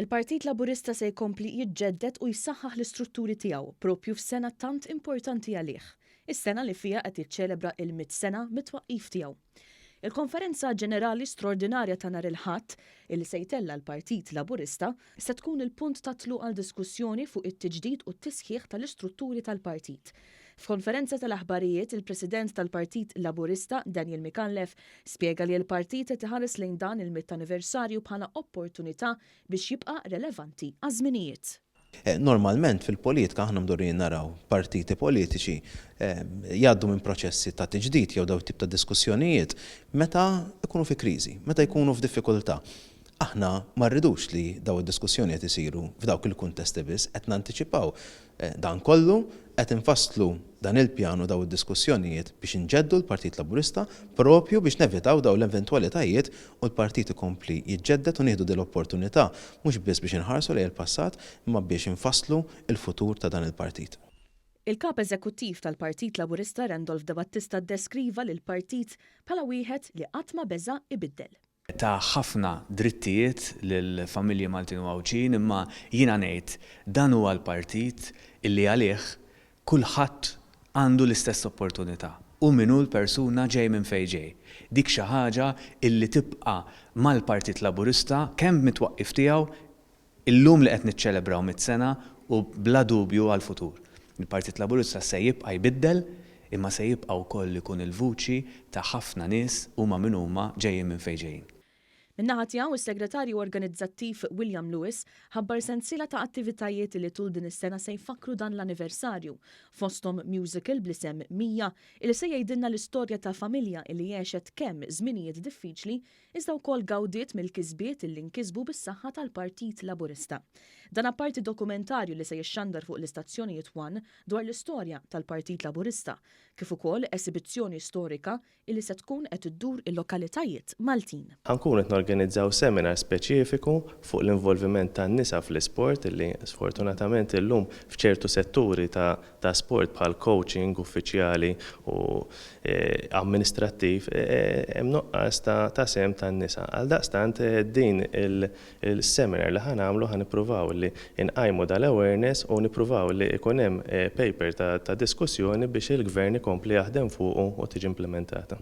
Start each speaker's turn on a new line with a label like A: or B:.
A: Il-Partit Laburista se jkompli jiġġedded u jsaħħaħ l-istrutturi tiegħu proprju f'sena tant importanti għalih, is-sena li fiha qed jiċċelebra l-mitt sena mit-twaqqif tiegħu. Il-Konferenza Ġenerali Straordinarja ta' nhar il-Ħadd, illi se jtella' l-Partit Laburista, se tkun il-punt tat-tluq għal diskussjoni fuq it-tiġdid u t-tisħiħ tal-istrutturi tal-partit. F'konferenza tal-aħbarijiet, il-President tal-Partit Laburista, Daniel Micallef, spjega li l-partit qed iħares lejn dan il-mitt anniversarju bħala opportunità biex jibqa' relevanti għaż-żminijiet. Normalment
B: fil-politika aħna mdorrijin naraw partiti politiċi jgħaddu minn proċessi ta' tiġdid jew dawn it-tip ta' diskussjonijiet meta jkunu fi kriżi, meta jkunu f'diffikultà. Aħna ma rridux li dawn id-diskussjoni qed isiru f'dawk il-kuntesti biss, qed nantiċipaw dan kollu, qed infasslu dan il-pjan u dawn id-diskussjonijiet biex inġeddu l-Partit Laburista proprju biex nevitaw dawn l-eventwalitajiet u l-Partit ikompli jiġġedded u nieħdu din l-opportunità mhux biss biex inħarsu lejn il-passat imma biex infasslu l-futur ta' dan il-Partit. Il-Kap
A: Eżekuttiv tal-Partit Laburista Randolph Debattista ddeskriva lill-Partit bħala wieħed li qatt ma beża' ibiddel. ta ħafna
C: drittijiet lil familji Maltin u Għawdxin imma jiena ngħid dan huwa l-partit illi għalih kulħadd għandu l-istess opportunità hu min hu l-persuna ġej minn fejn ġej. Dik xi ħaġa illi tibqa' mal-Partit Laburista kemm mit-twaqqif tiegħu Illum li qed niċċelebraw mitt sena u bla dubju għall-futur. Il-Partit Laburista se jibqa' jbiddel imma se jibqa' wkoll ikun il-vuċi ta' ħafna nies huma min huma ġejjin minn fejn ġejjin. Min-naħa tiegħu,
A: is-Segretarju Organizzattiv William Lewis ħabbar sensiela ta' attivitajiet li tul din is-sena se jfakkru dan l-anniversarju, fosthom musical bl-isem Mija illi se jgħidilna l-istorja ta' familja illi għexet kemm żminijiet diffiċli iżda wkoll gawdiet mill-kisbiet li nkisbu bis-saħħa tal-Partit Laburista. Dan apparti dokumentarju li se jixxandar fuq l-istazzjonijiet one dwar l-istorja tal-Partit Laburista, kif ukoll esibizzjoni storika li se tkun qed iddur il-lokalitajiet Maltin. Ħa nkunu qed norganizzaw
D: seminar speċifiku fuq l-involviment tan-nisa fl-isport li sfortunatament illum f'ċertu setturi ta' ta' sport bħal coaching uffiċjali u amministrattiv hemm nuqqas ta' sehem tan-nisa. Għaldaqstant din il-seminar li ħa nagħmlu ħa nippruvaw li nqajmu dal-awareness u nippruvaw li jkun hemm paper ta' diskussjoni biex il-Gvern ikompli jaħdem fuqu u tiġi implimentata.